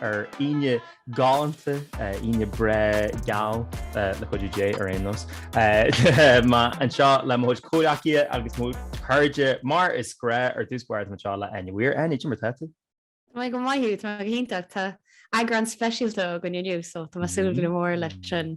ar Aoine galánta, Aoine breá, geal, le cuidiú Dé ar aon nós. Tá mé anseo le mo chuid comhghleacaithe agus mo chairde mar is gnáth ar dtús báire tá anseo le Áine Weir. Áine, cad é mar atá tú? Tá mé go maith Hugh, tá mé go hiontach. Tá eagrán speisialta againn inniu so tá mé ag súil go mór leis an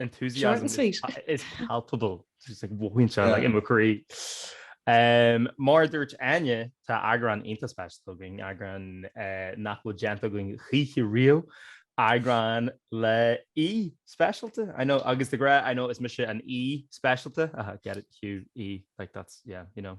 Short and sweet. is palpable. Just like mothaíonn sé like in mo chroí. Um, mar dúirt Áine, tá eagrán iontach speisialta againn, eagrán eh, nach bhfuil déanta againn choíche riamh, eagrán le aoi speisialta. I know, agus de ghnáth, I know is mise an aoi speisialta. Uh, get it, Hugh, Aodh, like that's, yeah, you know.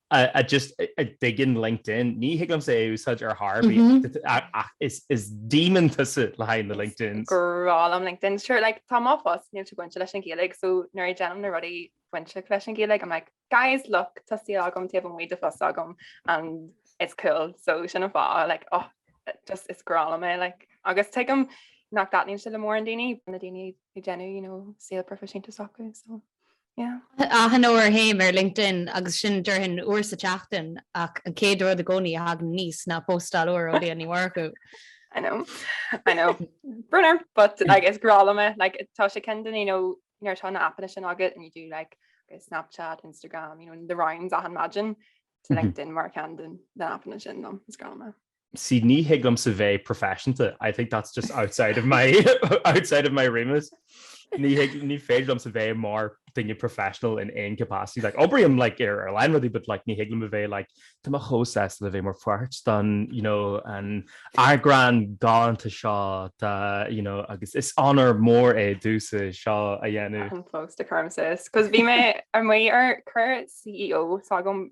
I just dig in LinkedIn, ní thig liomsa é a úsáid ar chor ar bith ach is demon tusa le haghaidh na LinkedIn. Grá liom LinkedIn. Sure, like, tá mo phost, níl sé bainte leis an Ghaeilge, so nuair a déanaim na rudaí bainte leis an Ghaeilge, I'm like, guys, look, tá saol agam, taobh amuigh de phost agam and it's cool. So sin an fáth, like, oh, just is grá liom é, like. Agus tuigim nach dtaitníonn sé le mórán daoine, na daoine ag déanamh, you know, saol proifisiúnta s'acu, so. Achan uair a théim ar LinkedIn agus sin déarfainn uair sa tseachtain ach an chéad rud i gcónaí a thagann aníos ná postáil úr ó Liadh Ní Mhurchú. I know, I know. Brón orm, but like, is grá liom é. Like, tá sé ceann den you know nuair tá na aipeanna sin agat and you do like Snapchat, Instagram, you know, the rounds achan maidin, so like, LinkedIn mar ceann den aipeanna sin liom, is grá liom é. Sea, ní thig liomsa bheith proifisiúnta, I think that's just outside of my outside of my remit. Ní thig, ní féidir liomsa bheith mar duine professional in aon capacity. Like, oibrím, like, ar a lán rudaí but, like, ní thig liom a bheith, like, tá mé chomh sásta le bheith mar pháirt den, you know, an eagrán galánta seo de, you know, agus is onóir mór é domhsa seo a dhéanamh. I'm close to Karmsis, 'cause bhí mé amuigh ar chuir CEO s'agam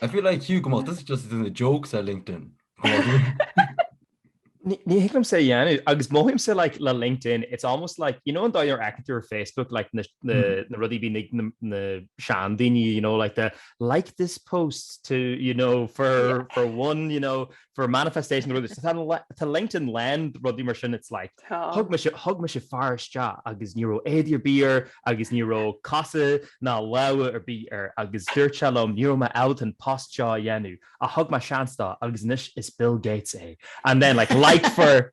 I feel like you, come on, this is just as in the jokes ar LinkedIn. Ní hiic liom sé dhéanú agus mothaím sé like le LinkedIn it's almost like you know an dáidir aiceann tú ar Facebook like na hmm. rudí bí na sean daoine you know like the like this post to you know for for one you know for a manifestation rud is tá LinkedIn lán rudaí mar sin it's like thug mé thug mise fear isteach agus ní raibh éadaí ar bith air agus ní raibh cosa ná lámha ar bith air agus dúirt sé liom ní raibh mé ábalta an post seo a dhéanamh ach thug mé seans dó agus anois is Bill Gates é and then like like for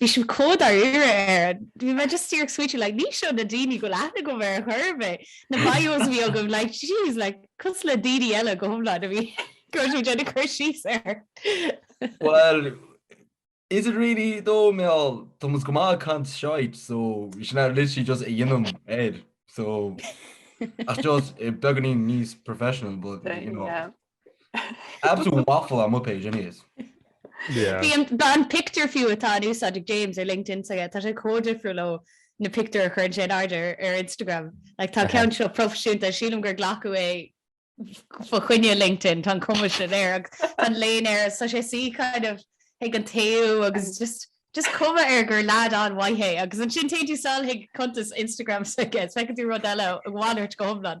Bhí sin chomh dáiríre air an. Bhí mé just díreach smaointiú like ní seo na daoine go bhfuil aithne agam ar chor ar bith. Na boys a bhí agam like jeez like cosúil le daoine eile go hiomlán a bhí ag déanamh cur síos air. Well is it really though mar táimse go maith ag caint shite so bhí sin ar literally just a dheinim air so ach just beagáinín níos professional but you know. Absolute waffle on my page anyways. Bhí an pictiúr fiú atá in úsáid ag James ar LinkedIn s'aige, tá sé chomh difriúil ó na pictiúir a chuireann sé in airde ar Instagram. Like tá an ceann seo proifisiúnta, sílim gur glacadh é fá choinne LinkedIn, tá an cuma sin air agus tá an léine air agus tá sé suí kind of ag an taobh agus just cuma air gur leaid an-mhaith é agus ansin téann tú sall chuig cuntas Instagram s'aige is feiceann tú rud eile a mhalairt go hiomlán.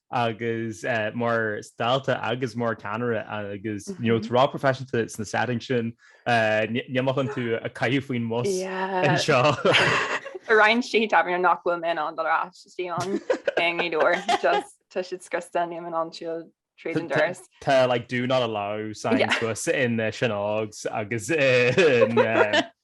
agus mar dalta agus mar cheannaire agus you know tá tú ró-phroifisiúnta sna settings sin níl mé chun tú a chaitheamh faoin mbus anseo. Tá roinn tithe tábhairne nach bhfuil mé in ann dul ar ais ann i nGaoth Dobhair just tá siad scriosta níl mé in ann siúl tríd an doras. Tá like do not allow signs thuas in Sean Ógs agus in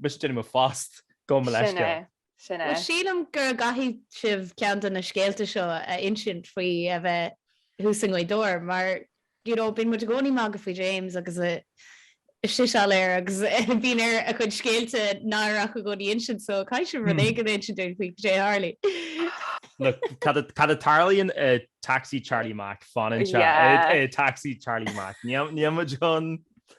Mis déine mo fast go me leis go. Sin é. Sílim gur gcaithfidh sibh ceann de na scéalta seo a insint faoi a bheith thuas i nGaoth Dobhair mar you know bíonn muid i gcónaí ag magadh faoi James agus é seo go léir agus bíonn air a chuid scéalta náireacha i gcónaí insint so caithfidh sibh rud éigin a insint dúinn faoi cad é a tharla. Look, cad a tarlaíonn i Taxi Charlie Mac fanann sé i Taxi Charlie Mac. Níl muid chun.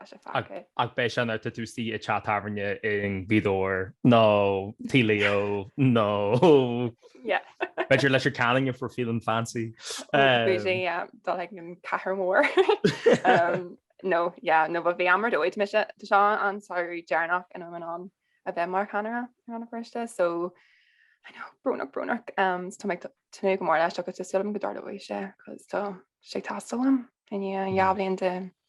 Tá sé faic é. Ach beidh sé nar titfidh sí i teach tábhairne i nGaoth Dobhair nó Tí Leo nó b'fhéidir Leitir Ceanainn if we're feeling fancy. Dul ag an Cathair Mhór. Nó nó but bhí am ar dóigh mise. Tá seo an samhradh deireanach ina raibh mé in ann a bheith mar cheannaire i Rann na Feirste so I know, brónach brónach. Tá mé ag tnúth go mór leis agus tá súil agam go dtarlóidh sé cos tá sé ag teastáil uaim i ndiaidh dhá bhliain de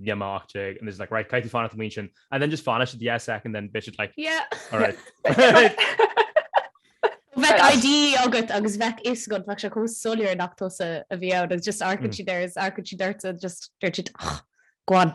Bhí mé 18 and it's like right caithfidh fanacht amuigh ansin and then just fanann siad yeah second then bheadh siad like yeah alright Bheadh ID agat agus bheadh a fhios agat bheadh sé chomh soiléir nach tusa a bhí ann agus just amharcann mm. siad air amharcann siad ort just dúirt siad ach go on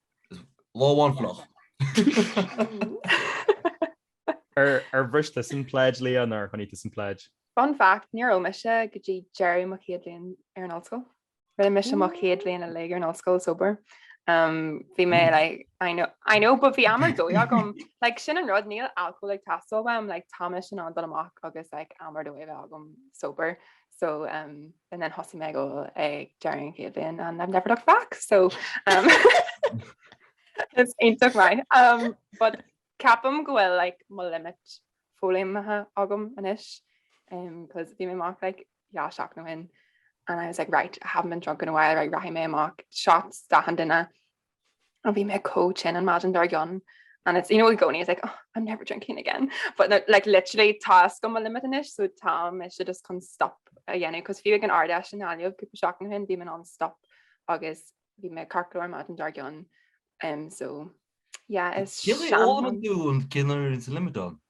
Lá amháin fliuch. Ar bhris tusa an pledge Liadh nó ar choinnigh tusa an pledge? Fun fact, níor ól mise go dtí deireadh mo chéad bhliain ar an ollscoil. Rinne mise mo chéad bhliain uilig ar an ollscoil sober. Um, bhí mé hmm. like, I know, I know, but bhí am ar dóigh agam. like sin an rud níl alcohol ag teastáil uaim, like tá mise in ann dul amach agus like am ar dóigh a bheith agam sober. So um and then thosaigh mé ag ól ag deireadh an chéad bhliain and I've never looked back so um it's iontach maith. Um but ceapaim go bhfuil like mo limit foghlaimthe agam anois um cos bhí mé amach like dhá seachtain ó shin and I was like right I haven't been drunk in a while right rachaidh mé amach shots d'achan duine and bhí me có chin an maidin dar gan and it's you know going is like oh, I'm never drinking again but no, like literally task go limit anish so tam it should just come stop again because few an ard and all you people shocking him demon on stop agus vi me carcor mat an dargon um so yeah it's all doing kinner is limit on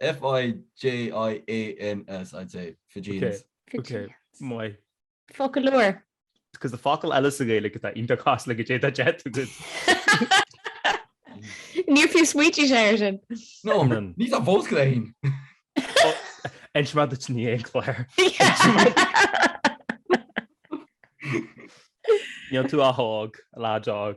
F-i-j-i-a-n-s, I'd say, Fijians. Fijians. Maith. Focal úr. Cos tá focal eile sa Ghaeilge atá iontach casta like goidé tá dead to good. Níor fiú smaointiú air sin. No, ní tá fós go léinn. Ins mar duit ní aon chláir. Níl tú á thóg, a lá deag.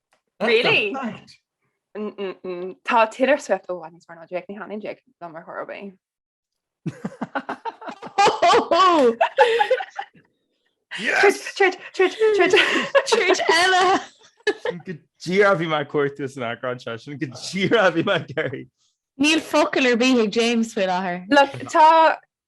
Really? Tá Taylor Swift ó bhain mar Jake ní hionann Jake na mar thobé. eile goidé a bhí mar cuairta san eagrán sin goidé a bhí mar geirí. Níl focal ar bith ag James faoi láthair. Le tá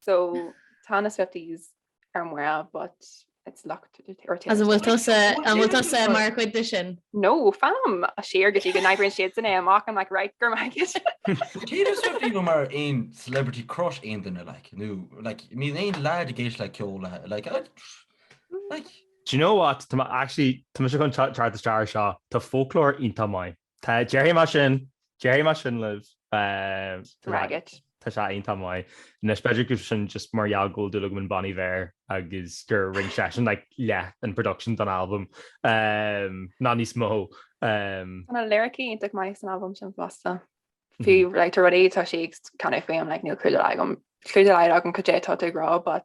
So tá na Swifties ar mire but it's locked or As an bhfuil tusa an bhfuil tusa mar chuid de sin? No, fam! Siar go dtí go n-oibríonn siadsan é amach I'm like right, go raibh maith agat. Cé na Swifties nó mar aon celebrity crush aon duine like nó like níl aon leaid ag éisteacht le ceol le like like Do you know what tá mé actually tá mise chun teacht isteach ar seo tá Folklore iontach maith. Tá, déarfaidh mé sin, déarfaidh mé sin libh. Raghad. Tá sé iontach maith. Anois b'fhéidir go sin just mar gheall go bhfuil dúil agam in Bon Iver agus gur rinn seisean like leath an production don albam, ná níos mó. Tá na liricí iontach maith san albam sin fosta. Fiú like tá rudaí tá sí ag canadh faoi like níl clue dá laghad agam clue dá laghad agam goidé tá ag rá, but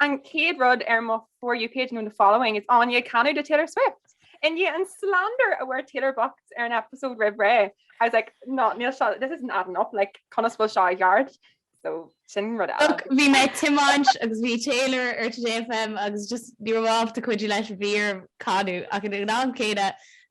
An chéad rud ar mo For You page nó the following is Áine ag canadh to Taylor Swift. I ndiaidh an slander a bhfuair Taylor bocht ar an episode roimh ré, I was like, no, níl seo, this isn't adding up, like, conas bhfuil seo i gceart? So sin rud eile. Ach bhí mé ag tiomáint agus bhí Taylor ar Today FM agus just ní raibh mé ábalta cuidiú leis, bhí orm canadh ach ag an am céanna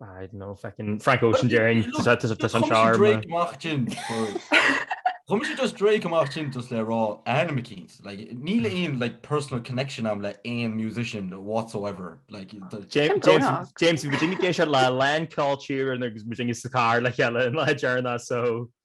I don't know, fucking Frank Ocean Jane, just out of this on charm. Drake Martin. Come to just Drake Martin just le rá Anna McKeens. Like Neil Ian like personal connection am le aon musician whatsoever. Like James James James Virginia Gay le Lan Culture and agus Virginia Sakar le cheile in le Jarna so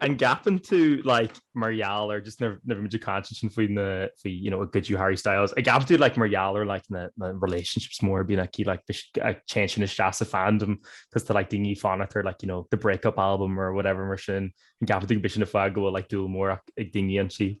An gceapann tú like mar gheall ar just nuair bhí muid ag caint ansin faoi na faoi you know a good you Harry Styles an gceapann tú like mar gheall ar like na na relationships mór bíonn aici like téann sin isteach sa fandom cos tá like daoine ag fanacht ar like you know the break-up album or whatever mar sin an gceapann tú go b'shin an fáth go bhfuil like dúil mór ag daoine ansin.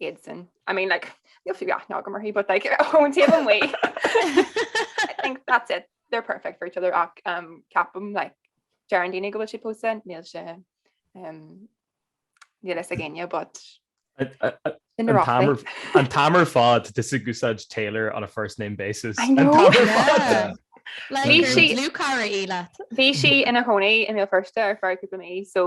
Iadsan. I mean like níl fiú aithne agam uirthi, but like ón taobh amuigh. I think that's it. They're perfect for each other ach um, ceapaim like deireann daoine go bhfuil sí pósta níl sé um, níl a fhios ag éinne, but I- I- I- in An t-am ar- an t-am ar fad tusa ag úsáid Taylor on a first name basis. I An know. t-am ar fad. Yeah. Like, Bhí gur sí- dlúthchara í leat. Bhí sí ina cónaí i mBéal Feirste ar feadh cúpla mí, so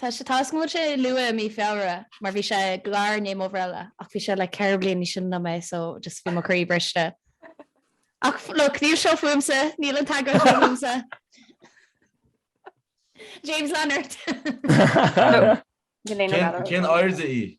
Tá sé taiscéalaithe luath i mí Feabhra mar bhí sé i gClár Naomh Oibrealla ach bhí sé like ceithre bliain níos sine ná mé so just bhí mo chroí briste. Ach look, níl seo fúmsa, níl an t-eagrán seo fúmsa. James Leonard. Cén airde í?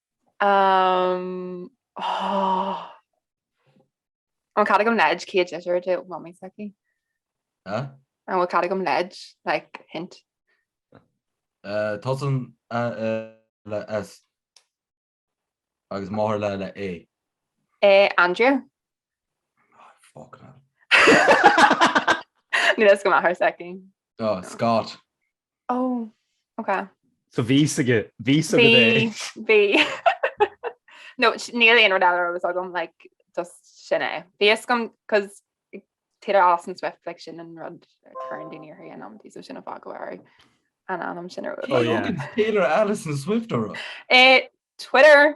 An bhfuil cead agam leid, céad litir do Mhamaí s'aici? An bhfuil cead agam leid like hint? Tosaíonn le S agus máthair le A. É Andrea? Fuck no. Ní raibh a fhios agam máthair s'aici. Scott. Ó, ok. So bhí aige, bhí agat é. Bhí, bhí. No, níl aon rud eile agus agam, like, just sin é. Bhí a fhios agam, cos Taylor Alison Swift, like, sin an rud current in ear an amtí, so sin an fáth go raibh an t-ainm sin ar rud. Taylor Alison Swift ar rud? Eh, Twitter.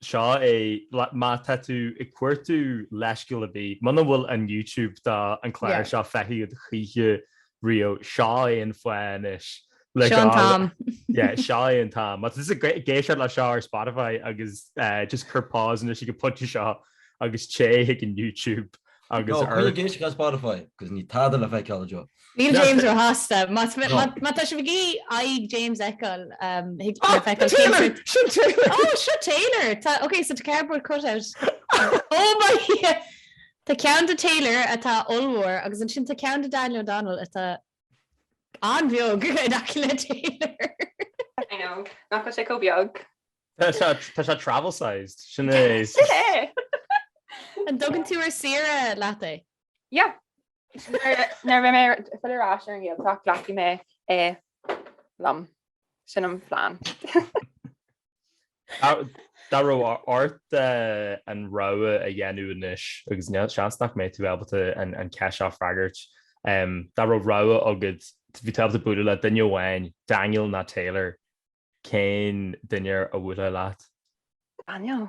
Seo é má tá tú ag cuartú leithscéal ar bith, muna bhfuil an YouTube do an clár seo feicthe agat choíche riamh, seo é an fáth anois le Seo an t-am. Yeah, seo é an t-am. Má tá tú ag éisteacht leis seo ar Spotify agus just cuir pause anois ag an pointe seo agus téigh chuig an YouTube. agus ar. Coinnigh ag éisteacht ar Spotify cos níl tada le feiceáil anseo. Níl James róshásta. Má tá sibh ag iarraidh James a fheiceáil, thig le feiceáil Taylor. Sin Taylor! Ó, seo Taylor! Tá, ok, so tá cardboard cutout. Oh my Dhia! Tá ceann de Taylor atá ollmhór agus ansin tá ceann de Daniel O'Donnell atá An-bheag in aice le Taylor. I know, nach bhfuil sé chomh beag. Tá sé travel sized, sin é. Sin é! An dtugann tú ar saoire leat é? Yeah. Nuair a bheidh mé ag pilleadh ar ais ar an nGaeltacht, glacfaidh mé é liom. Sin an plean. Dá raibh ort an rogha a dhéanamh anois, agus seans nach mbeidh tú ábalta an cheist seo a fhreagairt, dá raibh rogha agat, bhí tú ábalta bualadh le duine amháin, Daniel nó Taylor, cén duine a bhuailfeá leis? Daniel.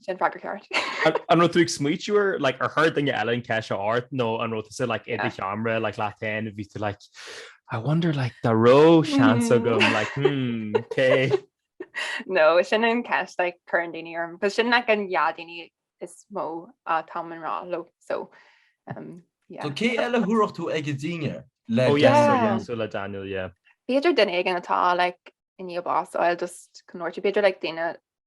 Sin freagra ceart. An raibh tú ag smaoitiú ar like, ar chuir duine eile an cheist ort nó an raibh tú sa like, i do sheomra like, leat féin a bhí tú like, I wonder like, dá raibh seans agam mm. like, hmm, cé? No, sin an cheist like, cuireann daoine orm, Tá sin like, an dá dhuine is mó uh, tá mé i ngrá leo so um, yeah. So cé eile rachadh tú ag dinnéar le oh, yeah. so, le Daniel yeah. B'fhéidir duine éigin atá like, i ndiaidh bás a fháil just conirte b'fhéidir like, daoine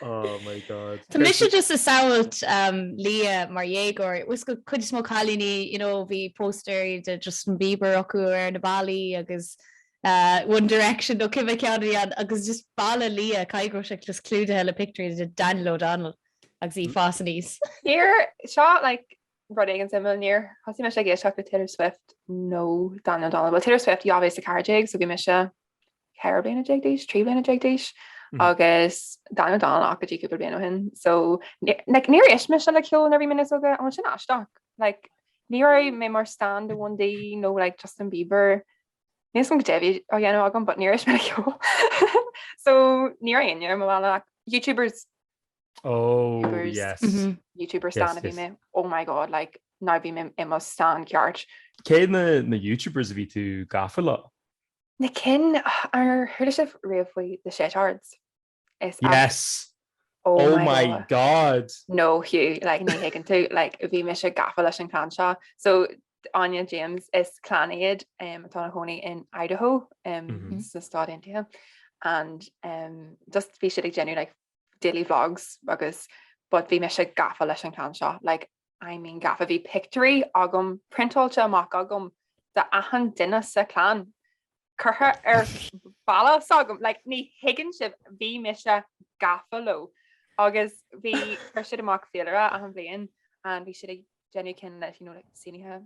Oh my God. Tá mise just ag samhailt Leah mar dhéagóir. Tá a fhios agat, cuid is mó cailíní you know bhí póstaeir de Justin Bieber acu ar na ballaí agus eh One Direction nó cibé ceann a bhí ann agus just ballaí Leah caithfidh go raibh siad just clúdaithe le pictiúirí de Daniel O'Donnell agus í ag fás aníos Níor seo like rud éigin suimiúil níor thosaigh mise ag éisteacht le Taylor Swift nó Daniel O'Donnell. Well Taylor Swift dhá mhíle is a ceathair déag so bhí mise 14 bliana d'aois, 13 bliana d'aois agus Daniel O'Donnell ach go dtí cúpla bliana ó shin. So níor éist mise le ceol nuair a bhí mé níos óige and sin aisteach. Like, ní raibh mé mar stan de One D nó like, Justin Bieber. Níl a fhios agam goidé a bhí á dhéanamh agam, but níor éist mé le ceol. so ní raibh aine mo bhile YouTubers Oh, YouTubers. yes. Mhm. YouTuber Yes, stan a bhí yes. mé. Oh my god, like no bhí mé i mo stan ceart. Cé na, na YouTubers a bhí tú gafa le? Na cinn, ar chuala sibh riamh faoi The Shaytards? Is ea. Yes! Oh Oh my my God! No Hugh, like ní thuigeann tú, like bhí mise gafa leis an clann seo. So Áine James, is clann iad em atá ina chónaí in Idaho em Mhm. sna Stáit Aontaithe and em just bhí siad ag déanamh like daily vlogs agus but bhí mise gafa leis an clann seo, like I mean gafa bhí pictiúirí agam priontáilte amach agam de achan duine sa chlann curtha ar balla s'agam like ní thuigeann sibh bhí mise gafa leo agus bhí chuir siad amach féilire achan bhliain and bhí siad ag déanamh cinn leis you know like sínithe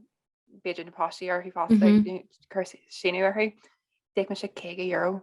b'fhéidir na páistí orthu fosta Mhm. like, you know, cur síniú orthu D'íoc mise 50 euro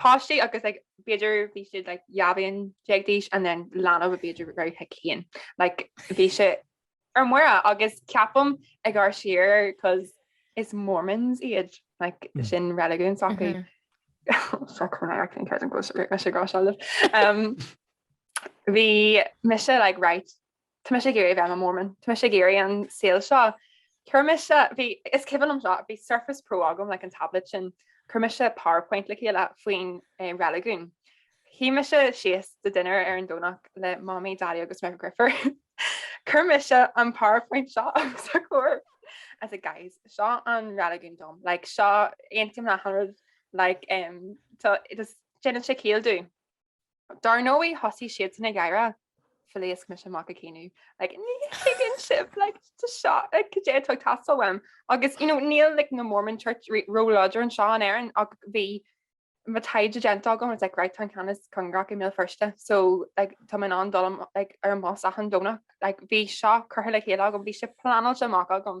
páistí agus like b'fhéidir bhí siad like dhá bhliain déag d'aois and then leanbh a b'fhéidir go raibh hic féin. Like bhí sé ar mire agus ceapaim ag amharc siar cos is Mormons iad like mm. sin reiligiún s'acu. Mm-hmm. Fuck when I actually encourage them close to me, I should go shall live. Um, bhí mise like right Tá mise ag iarraidh a bheith i mo Mormon. Tá mise ag iarraidh an saol seo. Chuir mise, bhí, is cuimhin liom seo, bhí Surface Pro agam, like an tablet sin, chuir mise PowerPoint le chéile faoin reiligiún. Shuigh mise síos do dinner ar an Domhnach le Mamaí, Daidí agus mo dheirfiúr. Chuir mise an PowerPoint seo os a gcomhair. I said, guys, seo an reiligiún dom, like seo, aontaím le hachan rud, like, um, tá, just, déanann sé ciall dom. Dar ndóigh thosaigh siadsan ag gáire, phléasc mise amach ag caoineadh, like ní thuigeann sibh like tá seo like cad é atá ag teastáil uaim agus you know níl like na Mormon Church rí- ró láidir anseo in Éirinn ach bhí mo taighde déanta agam I was like right tá an ceann is cóngaraí i mBéal Feirste so like tá mé in ann dul am- like ar an mbus achan Domhnach like bhí seo curtha le chéile agam bhí sé pleanáilte amach agam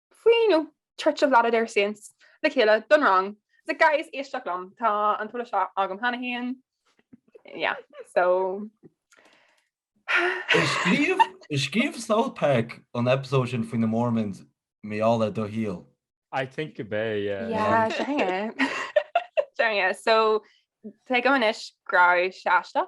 Faoin, em, Church of Latter-day Saints, le chéile, don rang. So guys éistigí liom. Tá an t-eolas seo agam cheana féin. Yeah, so. Is scríobh South Park an eipeasóid sin faoi na Mormons, mar gheall ar do shaol. I think gurb é, yeah. Yeah, sure thing. Sure thing, yeah. So, tuigim anois go raibh sé aisteach.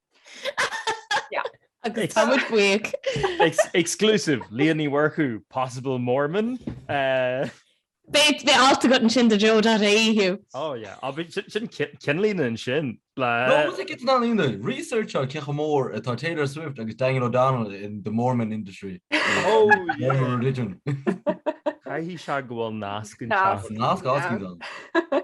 Agus tá muid buíoch. Exclusive, Leah Ní Mhurchú, possible Mormon. Beidh alt agat ansin do Joe.ie, Hugh. Ó, yeah. Á, bhí, sin, sin cin- ceannlíne ansin. Le... No, was it get an aoine? Research ar cé chomh mór atá Taylor Swift agus Daniel O'Donnell in the Mormon industry. Oh, Mormon yeah. religion. Caithfidh sé go bhfuil nasc anseo. Nasc. Nasc, nasc, nasc, nasc.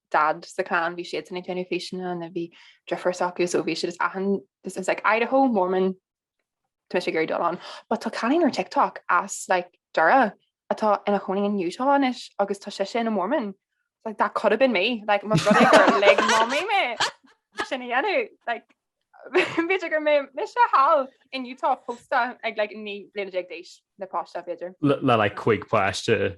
dad sa chlann, bhí siadsan ag déanamh físeanna nó bhí deirfiúr s'acu so bhí siad is achan, this is like Idaho, Mormon, tá mise ag iarraidh dul ann. But tá cailín ar TikTok as like Doire atá ina chónaí in Utah anois agus tá sise ina Mormon. Like that could have been me, like má ba rud é gur lig mamaí mé sin a dhéanamh like b'fhéidir go mbeadh mise thall in Utah pósta ag like naoi bliana déag d'aois le páiste b'fhéidir. Le like cúig páiste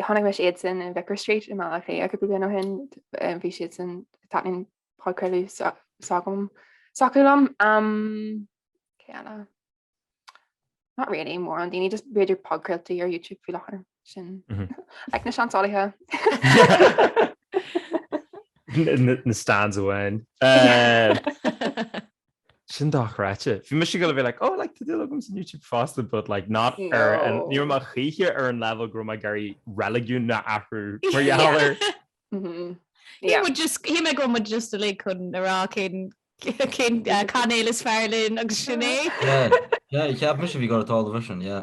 Chonaic mise iadsan in Vicar Street i mBaile Átha Cliath cúpla bliain ó shin. Bhí siadsan taitníonn podchraoladh s'acu liom. Cé eile? Not really mórán daoine just b'fhéidir podchraoltaí ar YouTube faoi láthair sin ag na seansálaithe. na stans amháin. Sin dochreidte. Bhí mise ag goil a bheith like oh like tá dúil agamsa in YouTube fosta but like not ar an, ní raibh mé choíche ar an leibhéal go raibh mé ag iarraidh reiligiún a athrú mar gheall air. Shíl mé go raibh muid just uilig chun a rá cén cén cainéal is fearr linn agus sin é. Yeah yeah cheap mise bhí go raibh tábhacht ar sin yeah.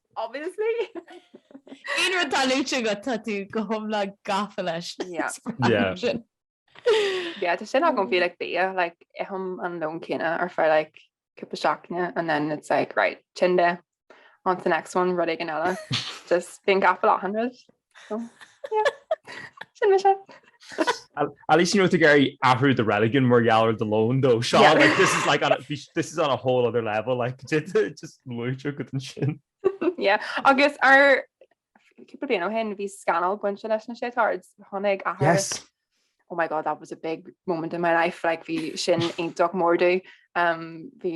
Obviously! Aon rud atá luaite agat tá tú go hiomlán gafa leis. Yeah, tá sin agam faoi like bia, like ithim an lón céanna ar feadh like cúpla seachtaine and then it's like right, tinn de, on to the next one, rud éigin eile. Just bíonn gafa le 100. Sin me se. at least you know to Gary after the religion where y'all are the loan though Sean yeah. like this is like on a, this is on a whole other level like just sin yeah agus ar cupúí ó hen bhí scanal buint leis na sé tards tháinig a yes oh my god that was a big moment in my life like bhí sin intoch mórdu um bhí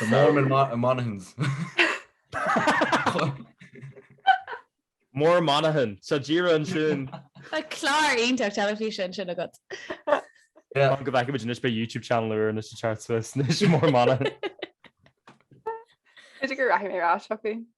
The Mormon Mon- Monaghans. Mór Monaghan. So díreach ansin. Tá clár iontach teilifíse ansin agat. Yeah. Go bhfeice muid anois beidh YouTube channel úr anois sna charts. Anois mór Monaghan. B'fhéidir go raithfidh mé rá seo faoi.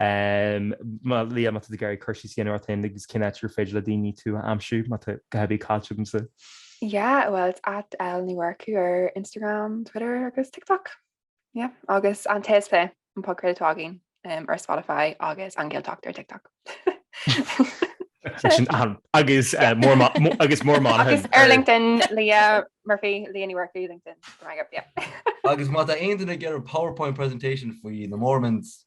Má Leah, má tá tú ag iarraidh cur síos a dhéanamh ort féin agus cén áit gur féidir le daoine tú a aimsiú, má tá a dhath ar bith caillte agamsa? Yeah, well it's at L Ní Mhurchú ar Instagram, Twitter agus TikTok. Yeah, agus an t-aos pé an podchraoladh atá againn ar Spotify agus an Gaeltacht ar TikTok. agus eh, agus Mór Monaghan agus ar LinkedIn Leah Murphy Leah Ní Mhurchú LinkedIn agus má tá aon duine ag iarraidh PowerPoint presentation faoi na Mormons